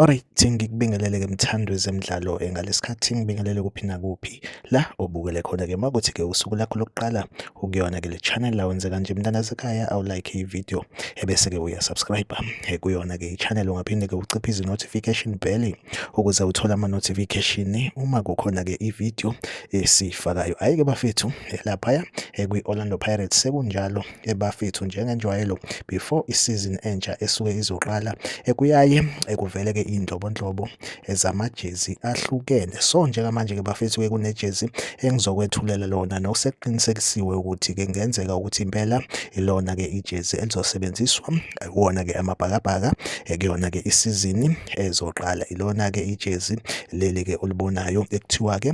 Alright, ngikubingelele-ke mthando wezemidlalo eh, ngalesikhathi ngibingelele kuphi nakuphi la obukele khona-ke makuthi-ke usuku lakho lokuqala ukuyona-ke le channel la wenze kanje mntanasekhaya awulike i-video ebese-ke uyasubscribe eh, kuyona-ke i-channel ungaphinde-ke uciphe izi-notification bell ukuze uthole ama-notification uma kukhona-ke i-video esiyifakayo hhayi-ke bafethu eh, laphaya kwi-orlando pirates sekunjalo ebafethu njengenjwayelo before isizini entsha esuke izoqala ekuyaye ekuveleke iy'nhlobonhlobo zamajezi ahlukene so njengamanje-ke bafethu-ke kunejezi engizokwethulela lona nokusekuqinisekisiwe ukuthi-ke kungenzeka ukuthi impela ilona-ke ijezi elizosebenziswa wona-ke amabhakabhaka ekuyona-ke isizini ezoqala ilona-ke ijezi leli-ke olibonayo ekuthiwa-ke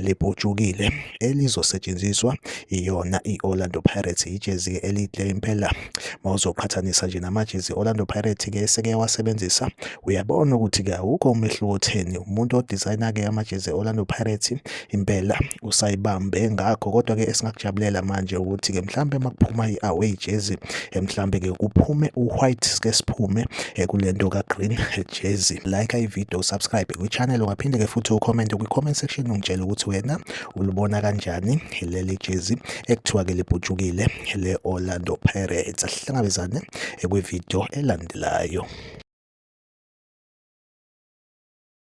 libhutshukile elizosetshenziswa iyona i-Orlando Pirates ijezi-ke elihle impela uma uzoqhathanisa nje namajezi Orlando Pirates-ke eseke wasebenzisa uyabona ukuthi-ke awukho umehluko otheni umuntu odizayina-ke amajezi Orlando Pirates impela usayibambe ngakho kodwa-ke esingakujabulela manje ukuthi-ke mhlawumbe uma kuphuma i-away jezi eh, mhlambe ke kuphume u-white sike siphume eh, kule nto ka-green eh, jersey like ivideo subscribe kwi-channel ungaphinde ke futhi ucomment kwi-comment section ungitshele ukuthi wena ulibona kanjani leli jezi ekuthiwa ke libhutshukile le-orlando pirates asihlangabezane kwivideo elandelayo